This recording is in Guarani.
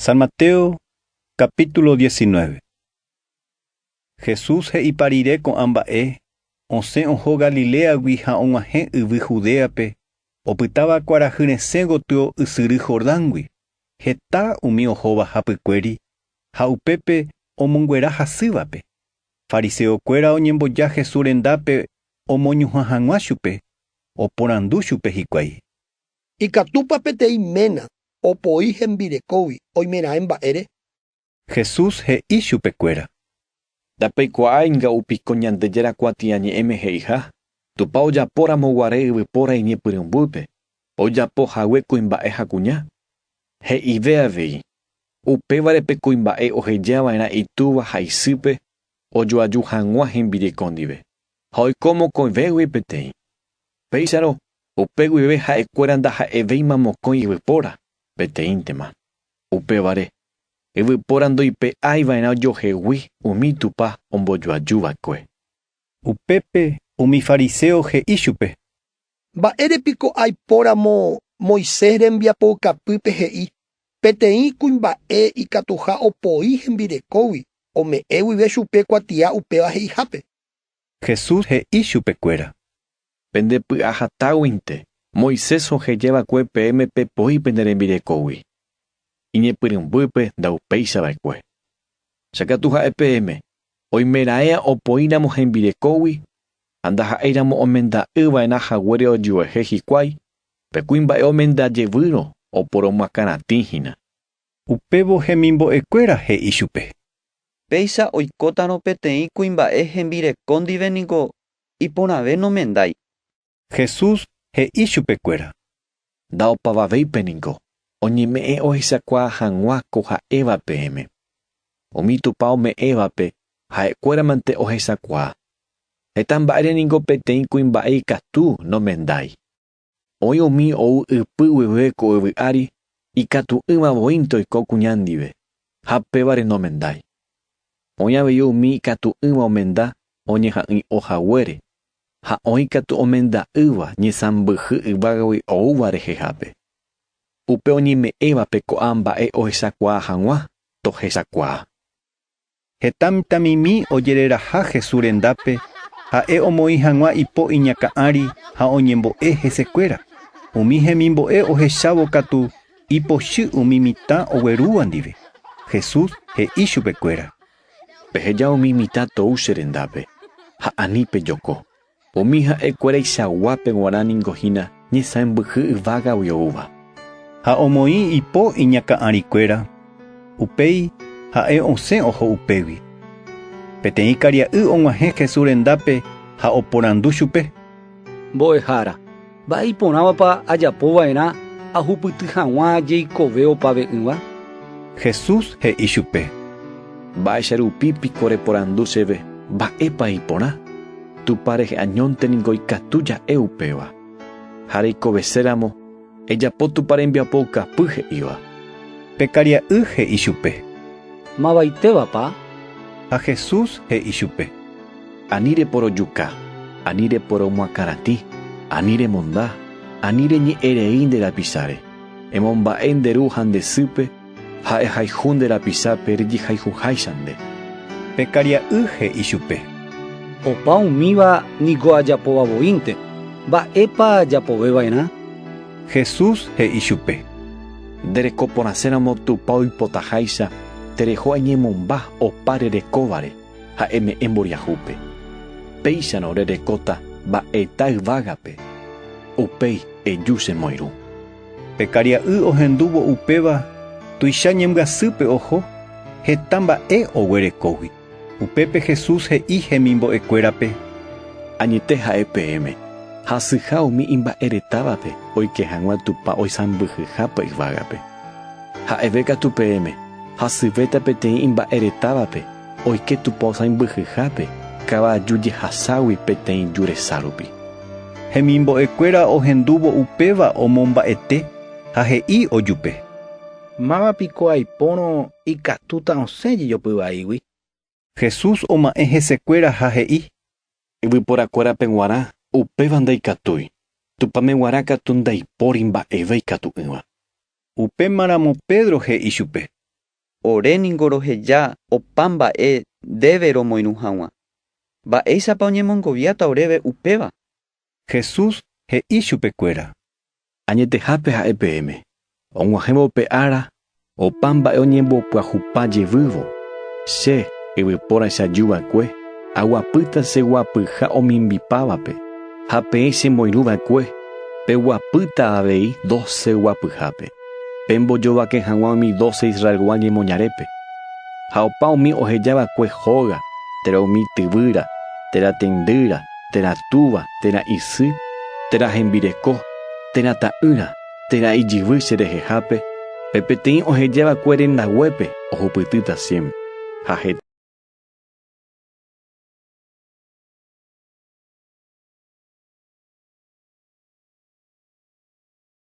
San Mateo capítulo diecinueve. Jesús he'ipa rire ko'ã mba'e, osẽ oho Galiléagui ha og̃uahẽ yvy Judéape, opytáva kuarahy resẽ gotyo ysyry Jordángui, heta umi ohóva hapykuéri ha upépe omonguera hasývape. Fariseokuéra oñemboja Jesús rendápe omoñuhã hag̃ua chupe, oporandu chupe hikuái. Ikatúpa peteĩ ména opoi hembirekógui oimeraẽ mba'ére? Jesús he'i chupekuéra. Ndapeikuaáinga upi ko Ñandejára kuatiañe'ẽme he'iha, Tupã ojapóramo guare yvypóra iñepyrũmbýpe, ojapo hague kuimba'e ha kuña? He'ive avei, Upévare pe kuimba'e oheja va'erã itúva ha isýpe ojoaju hag̃ua hembireko ndive, ha oiko mokõivégui peteĩ. Péicharõ, upe guive ha'ekuéra ndaha'evéima mokõi yvypóra, peteĩntema. Upévare, yvypóra ndoipe'ái va'erã ojohegui umi Tupã ombojoaju va'ekue. Upépe umi fariséo he'i chupe. Mba'ére piko aipóramo Moisés rembiapoukapýpe he'i peteĩ kuimba'e ikatuha opoi hembirekógui ome'ẽ guive chupe kuatia upéva he'ihápe? Jesús he'i chupekuéra. Pende py'ahatáguinte, Moisés oheja va'ekue peẽme pepoi pende rembirekógui. Iñepyrũmbýpe ndaupéicha va'ekue. Che katu ha'e peẽme, oimeraẽa opoíramo hembirekógui ha ndaha'éiramo omenda'ỹ va'erã haguére ojuehe hikuái, pe kuimba'e omenda jevýrõ oporomoakãratĩ hína. Upévo hemimbo'ekuéra he'i chupe. Péicha oikótarõ peteĩ kuimba'e hembireko ndive niko iporãve nomendái. Jesús he'i chupekuéra. Nda'opavavéipe niko oñeme'ẽ ohechakuaa hag̃ua ko ha'éva peẽme. Umi Tupã ome'ẽvape ha'ekuéramante ohechakuaa. Heta mba'ére niko peteĩ kuimba'e ikatu nomendái. Oĩ umi ou ypy guive ko yvy ári, ikatu'ỹva voínte oiko kuña ndive, ha pévare nomendái. Oĩ avei umi ikatu'ỹva omenda oñeha'ỹi'o haguére, ha oĩ katu omenda'ỹva ñesãmbyhy yvágagui oúva rehehápe. Upe oñeme'ẽvape ko'ã mba'e ohechakuaa hag̃ua, tohechakuaa. Heta mitãmimi ojereraha Jesús rendápe, ha'e omoĩ hag̃ua ipo iñakã ári ha oñembo'e hesekuéra. Umi hemimbo'e ohechávo katu ipochy umi mitã oguerúva ndive. Jesús he'i chupekuéra. Peheja umi mitã tou che rendápe, ha ani pejoko. Umi ha'e kuéraichagua pe guarã ningo hína ñesãmbyhy yvágagui oúva. Ha omoĩ ipo iñakã'ari kuéra, upéi ha'e osẽ oho upégui. Peteĩ karia'y og̃uahẽ Jesús rendápe ha oporandu chupe. Mbo'ehára. Mba'e iporãvapa ajapo va'erã ahupyty hag̃ua jeikove opa ve'ỹva? Jesús he'i chupe. Mba'éicha rupi piko reporandu chéve mba'épa iporã? Tupã rehe añónte ningo ikatu ja'e upéva. Ha reikovese ramo, ejapo Tupã rembiapo okapy he'íva. Pe karia'y he'i chupe. Mavaitévapa? Ha Jesús he'i chupe. Ani reporojuka, ani reporomoakãratĩ, ani remonda, ani reñe'ẽ rei nde rapicháre, emomba'e nde ru ha nde sýpe, ha ehayhu nde rapichápe rejehayhuháicha nde. Pe karia'y he'i chupe. Opa umíva niko ajapóva voínte, mba'épa japove va'erã? Jesús he'i chupe. Nde reko porãséramo Tupã oipotaháicha, tereho añemomba opa rerekóvare. ha eme'ẽ mboriahúpe, péicharõ rerekóta mba'eta yvágape, upéi eju che moirũ. Pe karia'y ohendúvo upéva tuicha ñembyasýpe oho, heta mba'e oguerekógui. Upépe Jesús he'i hemimbo'ekuérape, Añete ha'e peẽme, hasyha umi imba'eretávape oike hag̃ua Tupã oisãmbyhyhápe yvágape. Ha'eve katu peẽme hasyvéta peteĩ imba'e retávape oike Tupao sãimbyhyhápe kavaju jehaságui peteĩ ju resa rupi. Hemimbo'ekuéra ohendúvo upéva omomba'ete ha he'i ojupe. Máva piko aipórõ ikatúta osẽ jejopy vaígui? Jesús oma'ẽ hesekuéra ha he'i. Yvyporakuérape guarã, upéva ndaikatúi, Tupãme guarã katu ndaipóri mba'eve ikatu'ỹva. Upéma ramo Pedro he'i chupe. Ore ningo roheja opa mba'e ndéve romoirũ haguã. Mba'éichapa oñemongoviáta oréve upéva? Jesús he'i chupekuéra. Añetehápe ha'e peẽme, og̃uahẽvo pe ára opa mba'e oñembopyahupa jevývo, Che, yvypóraicha juva'ekue, aguapýta che guapyha omimbipávape, ha peẽ che moirũ va'ekue, peguapýta avei doce guapyhápe, pembojovake hag̃ua umi doce Israelgua ñemoñarépe. Ha opa umi oheja va'ekue hóga, térã umi tyvýra, térã tendýra, térã túva, térã isy, térã hembireko, térã ta'ỹra, térã ijyvy che rehehápe, pe peteĩ ohejava'ekue rendaguépe ohupytýta siémpre, ha heta.